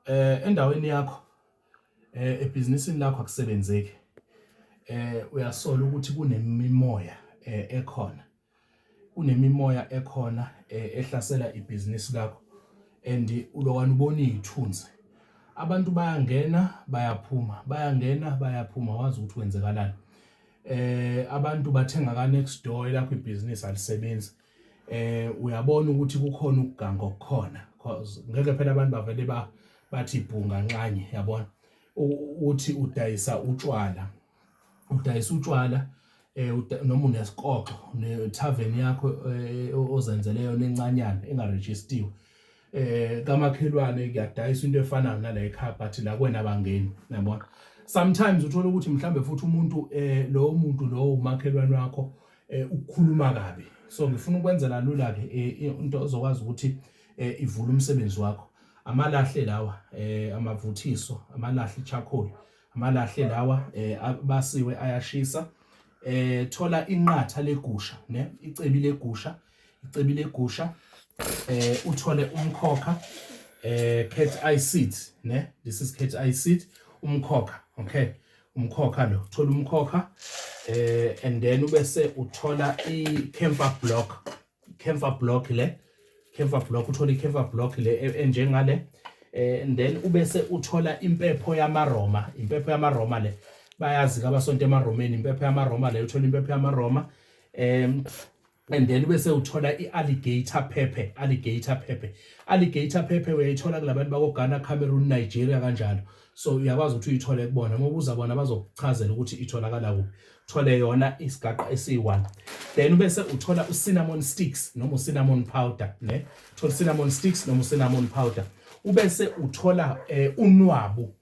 Eh endaweni yakho eh ebhizinisini lakho akusebenzeki. Eh uyasola ukuthi kunemimoya eh, ekhona. Kunemimoya ekhona eh, ehlasela ibhizinisi lakho and ulowana ubona izithunzi. Abantu bayangena bayaphuma, bayangena bayaphuma wazi ukuthi kwenzekalani. Eh abantu bathenga ka next door elakho ibhizinisi alisebenzi. eh uyabona ukuthi kukhona ukuganga okukhona because ngeke phela abantu bavele ba bathi ibhunga nxanye yabona uthi udayisa utshwala udayisa utshwala eh noma unesikoxo ne tavern yakho eh, ozenzele yona encanyana engaregistiwe eh kamakhelwane kuyadayisa into efanayo nala ekhaya but la kwena abangeni yabona sometimes uthola ukuthi mhlambe futhi umuntu eh lo muntu lo umakhelwane wakho eh, ukukhuluma kabi so ngifuna ukwenzela lula ke eh, into ozokwazi ukuthi eh, ivule umsebenzi wakho amalahle lawa eh amavuthiso amalahle charcoal amalahle lawa eh basiwe ayashisa eh thola inqatha legusha ne icebi legusha icebi legusha eh uthole umkhokha eh cat eye seed ne this is cat eye seed umkhokha okay umkhokha lo thola umkhokha eh and then ubese uthola i camphor block camphor block le camphor block uthola i camphor block le e, enjengale eh and then ubese uthola impepho yamaroma impepho yamaroma le bayazi kabasonto emaromeni impepho yamaroma le uthola impepho yamaroma em and then bese uthola i-alligator pepper alligator pepper alligator pepper uyayithola kulabantu bakogana cameroon nigeria kanjalo so uyakwazi ukuthi uyithole kubona uma ubuza bona bazokuchazela ukuthi itholakala kuphi thole yona isigaqa esiyi-one then bese uthola ucinnamon sticks noma ucinnamon powder ne thola ucinnamon sticks noma ucinnamon powder ubese uthola um unwabu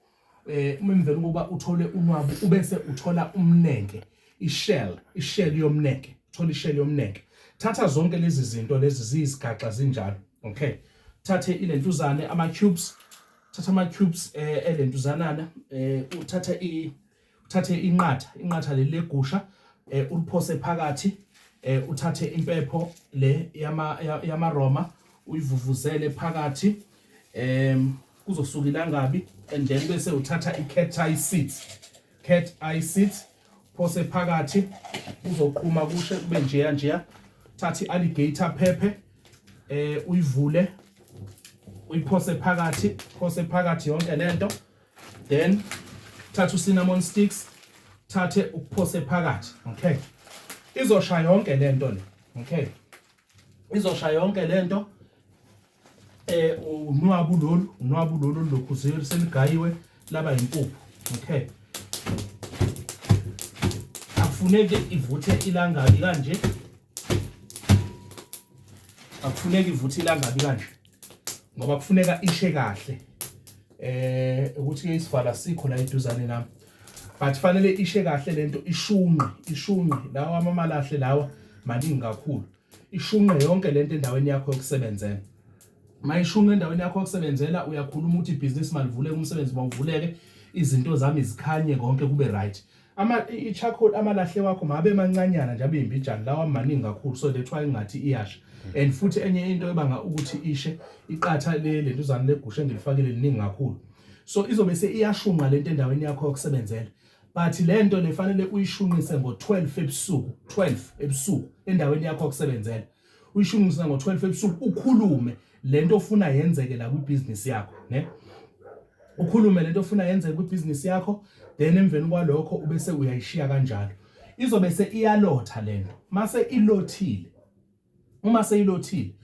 eh uma emvela ukuba uthole unwabu ubese uthola umnenke ishell ishell yomnenke uthola ishell yomnenke thatha zonke lezi zinto lezi ziyizigaxa zinjalo okay thathe ilentuzane ama cubes thatha ama cubes eh elentuzanana eh uthatha i uthathe inqatha inqatha leli legusha eh, uliphose phakathi eh, uthathe impepho le yamaroma uyivuvuzele phakathi um kuzosuka ilangabi and then bese uthatha i-cat eye seat cat eye seat phose phakathi uzoqhuma kushe kube njeya njeya thatha i-alligator phephe eh uyivule uyiphose phakathi phose phakathi yonke lento then thatha ucinnamon sticks thathe ukuphose phakathi okay izosha yonke lento le okay izosha yonke lento eh unwabu lolu unwabu lolu lokhu zero seligayiwe laba impuphu okay akufuneki ivuthe ilangabi kanje akufuneki ivuthe ilangabi kanje ngoba kufuneka ishe kahle eh ukuthi ke isivala sikho la eduzane nami but fanele ishe kahle lento ishunqe ishunqe lawa amamalahle lawa maningi kakhulu ishunqe yonke lento endaweni yakho yokusebenzela mayishunqe endaweni yakho yokusebenzela uyakhuluma ukuthi ibhizinisi malivuleke umsebenzi mawuvuleke izinto zami zikhanye konke kube right ama i-charcoal amalahle wakho mabe mancanyana nje abe imbijana lawa amaningi kakhulu so that's why ingathi iyasha and futhi enye into ebanga ukuthi ishe iqatha le lentuzane legusha engilifakile liningi kakhulu so izobe seyiyashunqa lento endaweni yakho yokusebenzela but le nto lefanele uyishunqise ngo-12 ebusuku 12 ebusuku endaweni yakho yokusebenzela uyishungisa ngo-12 ebusuku ukhulume lento ofuna yenzeke la kwibhizinisi yakho ne ukhulume lento ofuna yenzeke kwibhizinisi yakho then emveni kwalokho ubese uyayishiya kanjalo izobe se iyalotha lento mase ilothile uma seyilothile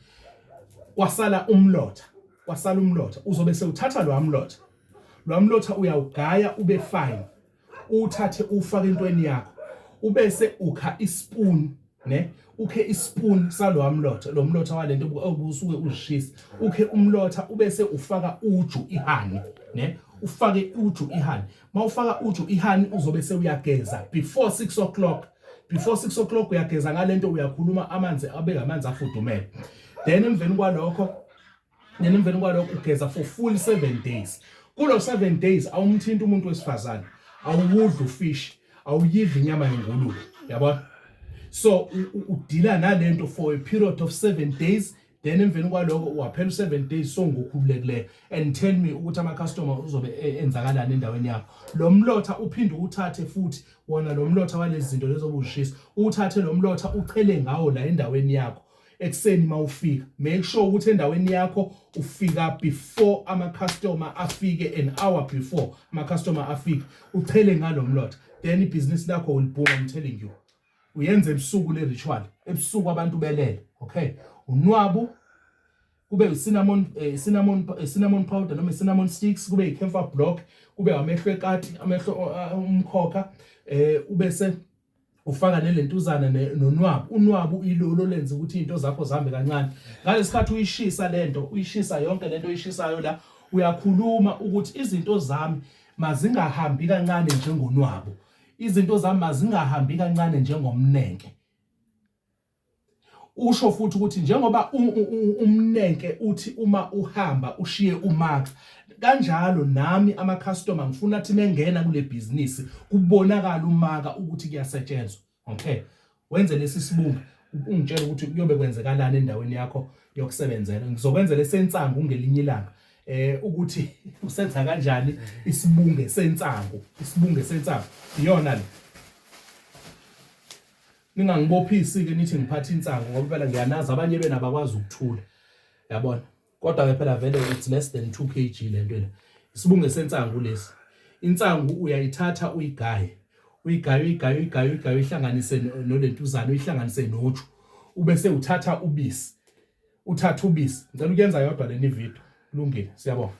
kwasala umlotha kwasala umlotha uzobe sewuthatha lo amlotha lo amlotha uyawugaya ube fine uwuthathe ufake entweni yakho ubese ukha ispoon ne ukhe ispoon salowa mlotha lo mlotha walento obusuke uzishisa ukhe umlotha ubese ufaka uju ihani ne ufake uju ihani mawufaka uju ihani uzobe sewuyageza before 6 o'clock before 6 o'clock uyageza ngalento uyakhuluma amanzi abe ngamanzi afudumele then emveni kwalokho then emveni kwalokho ugeza for full 7 days kulo 7 days awumthinta umuntu wesifazane awuwudli ufish awuyidli inyama yengulube yabona so udila nalento for a period of 7 days then emveni kwaloko waphela u7 days so ngokhululekileyo and tell me ukuthi ama customer uzobe e, enzakalani endaweni yakho lo mlotha uphinde uthathe futhi wona lo mlotha walezi zinto lezobushisa uthathe lo mlotha uchele ngawo la endaweni yakho ekuseni mawufika make sure ukuthi endaweni yakho ufika before ama customer afike an hour before ama customer afike uchele ngalomlotha then ibhizinisi lakho will boom i'm telling you uyenza ebusuku le ritual ebusuku abantu belele okay unwabu kube cinnamon eh, cinnamon eh, cinnamon powder noma cinnamon sticks kube icampher block kube amehlo ekati amehlo uh, umkhokha eh ubese ufaka nelentuzana nonwabu unwabu ilolo lenza ukuthi into zakho zihambe kancane ngalesikhathi uyishisa lento uyishisa yonke lento oyishisayo la uyakhuluma ukuthi izinto zami mazingahambi kancane njengonwabu izinto zami mazingahambi kancane njengomnenke Usho futhi ukuthi njengoba umnenke uthi uma uhamba ushiye umax kanjalo nami amacustomer ngifuna athi mengena kule bhizinisi kubonakala umaka ukuthi kuyasetshenzwa okay wenze lesi sibunga ungitshela ukuthi kuyobe kwenzekalani endaweni yakho yokusebenzela ngizokwenzela esensangu ngelinye ilanga eh ukuthi usenza kanjani isibunge sensangu isibunge sensangu iyona le ningangibophisi-ke nithi ngiphatha insangu ngoba phela ngiyanazi abanye bena bakwazi ukuthula yabona kodwa-ke phela vele it's less than two k g le nto le isibunge sensangu lesi insangu uyayithatha uyigaye uyigaye uyigaye uyigaye uyigaye uyihlanganise nolentuzane uyihlanganise noju ube sewuthatha ubisi uthatha ubisi ngicela ukuyenza yodwa leni video kulungile siyabonga